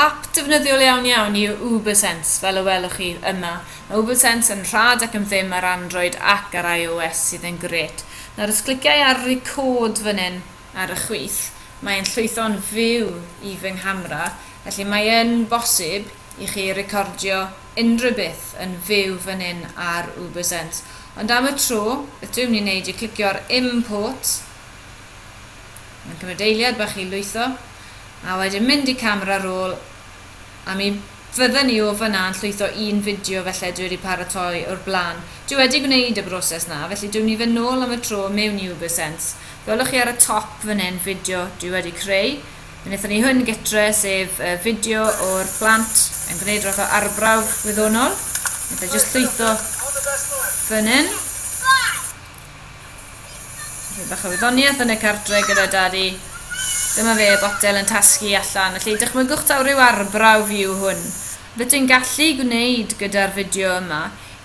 ap defnyddiol iawn iawn yw ubersense fel y welwch chi yma mae ubersense yn rhad ac am ddim ar android ac ar ios sydd yn grêt nawr os cliciau ar record fan hyn ar y chwith mae e'n llwytho'n fyw i fy nghamera felly mae yn bosib i chi recordio unrhyw beth yn fyw fan hyn ar ubersense ond am y tro beth dw i'n mynd i wneud yw clicio ar import Mae'n cymryd eiliad bach i lwytho, a wedyn mynd i camera roll, a mi fydden ni o fan'na yn llwytho un fideo felly dwi wedi paratoi o'r blaen. Dwi wedi gwneud y broses 'na, felly dwi mynd i fynd nôl am y tro mewn i Ubersense. Gwelwch chi ar y top fan hyn fideo dwi wedi creu. Mi wnaethon ni hwn gytre, sef y fideo o'r plant yn gwneud rhywbeth o arbrawf wyddonol. Wnaeth e jyst llwytho fan hyn. Rwy'n bach o wyddoniaeth yn y cardre gyda dadi. Dyma fe, botel yn tasgu allan. Felly, dychmygwch taw rhyw arbrawf yw hwn. Beth dwi'n gallu gwneud gyda'r fideo yma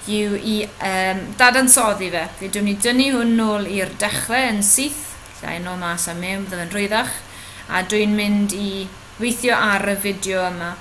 yw i um, dadansoddi fe. Fe dwi'n ni dynnu hwn nôl i'r dechrau yn syth, lle yn ôl mas a mewn, byddaf yn rhwyddach, a dwi'n mynd i weithio ar y fideo yma.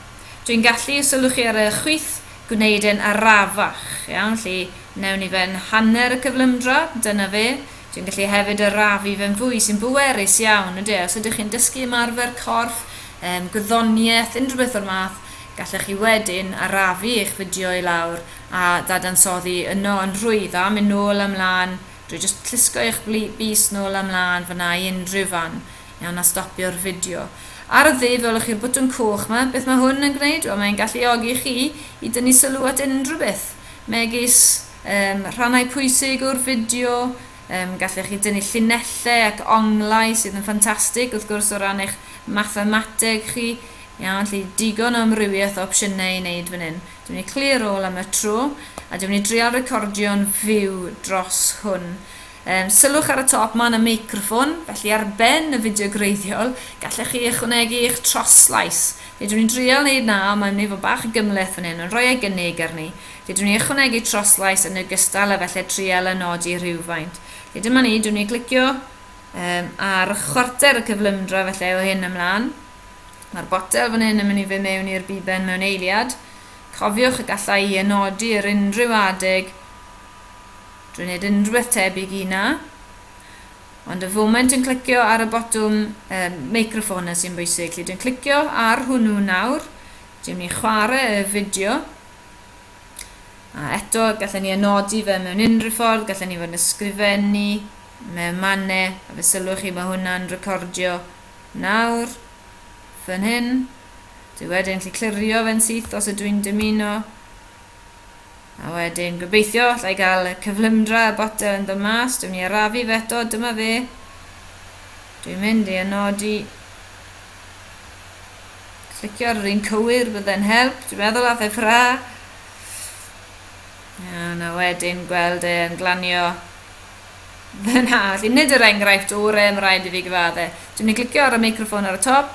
Dwi'n gallu, sylwch chi ar y chwith, gwneud e'n arafach, iawn, felly wnewn ni fe'n hanner y cyflymdra, dyna fe. Dwi'n gallu hefyd arafu fe'n fwy, sy'n bwerus iawn, ynde? Os ydych chi'n dysgu ymarfer corff, um, gwyddoniaeth, unrhyw beth o'r math, gallech chi wedyn arafu eich fideo i lawr a ddadansoddi yno yn rhwydd a mynd nôl a mlaen drwy jyst llusgo eich bys nôl a mlaen fyna i unrhyw fan Iawn, a stopio'r fideo. Ar y dde, fe welwch chi'r botwm coch 'ma. Beth mae hwn yn gwneud? Wel, mae'n galluogi chi i dynnu sylw at unrhyw beth, megis um, rhannau pwysig o'r fideo, um, gallech chi dynnu llinellau ac onglau sydd yn ffantastig, wrth gwrs, o ran eich mathemateg chi. Iawn, lle digon o amrywiaeth o opsiynau i wneud fan hyn. Dwi'n mynd i clear all am y tro, a dwi'n mynd i drial recordio'n fyw dros hwn. Yym, sylwch ar y top 'ma yn y meicroffon, felly ar ben y fideo gwreiddiol, gallech chi ychwanegu eich troslais. Fedrwn ni drial wneud 'na, ond mae myn' i fod bach o gymhleth fan hyn, ond rhoi ei gynnig arni. Fedrwn ni ychwanegu troslais yn ogystal a falle trial a nodi rhywfaint. Felly dyma ni, dwn ni glicio um, ar chwarter y cyflymdra felly o hyn ymlaen. Mae'r botel fan hyn yn mynd i fe mewn i'r biben mewn eiliad. Cofiwch y gallai i enodi yr unrhyw adeg Dwi'n neud unrhywbeth tebyg i 'na. Ond y foment yn clicio ar y botwm y meicroffon 'na sy'n bwysig. Felly dwi'n clicio ar hwnnw nawr. Dwi'n mynd i chwarae y fideo. A eto, gallen ni anodi fe mewn unrhyw ffordd, gallen ni fod yn ysgrifennu mewn mannau, a fe sylwch chi mae hwnna'n recordio nawr, fan hyn. Dwi wedyn gallu clirio fe'n syth os ydw i'n dymuno. A wedyn, gobeithio, alla i gael y cyflymdra y butter yn dod mas. Dwi'n mynd i arafu fe eto, dyma fe. Dwi'n mynd i anodi. Clicio ar yr un cywir, bydde'n help. Dwi'n meddwl a fe ffra. Iawn, a wedyn gweld e yn glanio fyna. Felly, nid yr enghraifft o'r e, mae rhaid i fi gyfadde. Dwi'n mynd i glicio ar y microffon ar y top.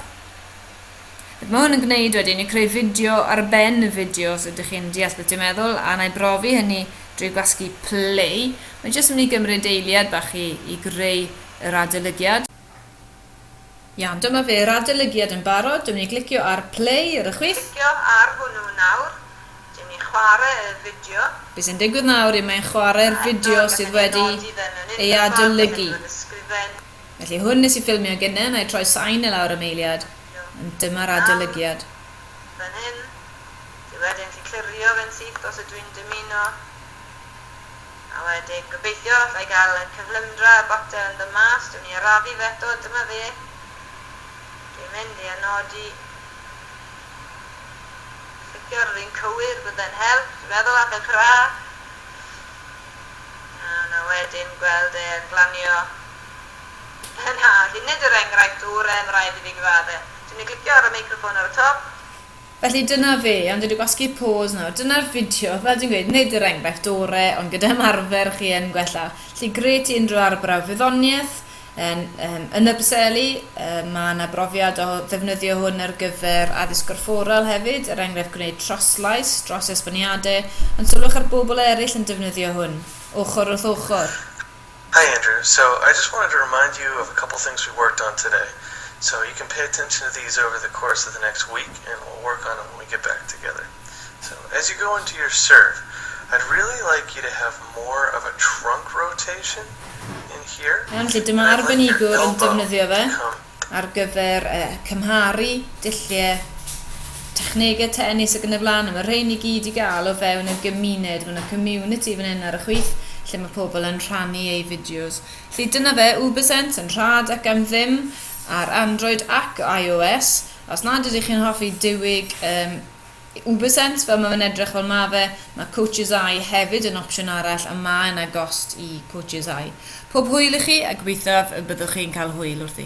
Mae hwn yn gwneud wedyn i creu fideo ar ben y fideo os ydych chi'n deall beth dwi'n meddwl a wna i brofi hynny drwy gwasgu play. Mae jyst yn mynd i gymryd eiliad bach i i greu yr adolygiad. Iawn, dyma fe, yr adolygiad yn barod, dwi'n mynd i glicio ar play ar y chwith. Clicio ar hwnnw nawr, dwi'n mynd i chwarae y fideo. Be sy'n digwydd nawr yw mae'n chwarae'r fideo sydd wedi ei adolygu. Felly hwn nes i ffilmio gynnen a'i troi sain i lawr am eiliad, ond dyma'r adolygiad. Nawr, fan hyn, dwi wedyn gallu clirio fe'n syth os ydw i'n dymuno, a wedyn gobeithio alla i gael y cyflymdra, y botel yn dod mas, dwi myn' i arafu fe eto, dyma fe, dwi'n mynd i anodi, clicio ar yr un cywir, bydde'n help, dwi'n meddwl, a'th e'n cra. Yna wedyn gweld e yn glanio yna fi nid yr enghraifft oren raid i fi gyfadde. Ti myn i glicio ar y meicroffon ar y top? Felly dyna fe, iawn dwi di gwasgu pause nawr, dyna'r fideo, fel dwi'n gweud nid yr enghraifft ore ond gyda ymarfer chi yn gwella. Felly gret i unrhyw arbrawf wyddoniaeth, Yn yym yn Ypseli yy ma' 'na brofiad o ddefnyddio hwn ar gyfer addysg gorfforol hefyd, er enghraifft gwneud troslais dros esboniade, ond sylwch ar bobl eraill yn defnyddio hwn, ochr wrth ochr. Hi Andrew, so I just wanted to remind you of a couple things we worked on today, so you can pay attention to these over the course of the next week and we'll work on them when we get back together. So as you go into your serve, I'd really like you to have more of a trunk rotation in here, Iawn, felly dyma arbenigwr yn defnyddio fe ar gyfer cymharu dulliau technegau tenis ac yn y blaen, a mae rhein i gyd i gael o fewn y gymuned, mae yna community fan hyn ar y chwith lle mae pobl yn rhannu eu fideos. Felly dyna fe, Ubersense yn rhad ac am ddim ar Android ac iOS, Os nad ydych chi'n hoffi diwyg um, Ubersent, fel mae fe'n edrych fel mae fe, mae Coaches Eye hefyd yn opsiwn arall a mae yna gost i Coaches Eye. Pob hwyl i chi a gobeithiaf y byddwch chi'n cael hwyl wrthi.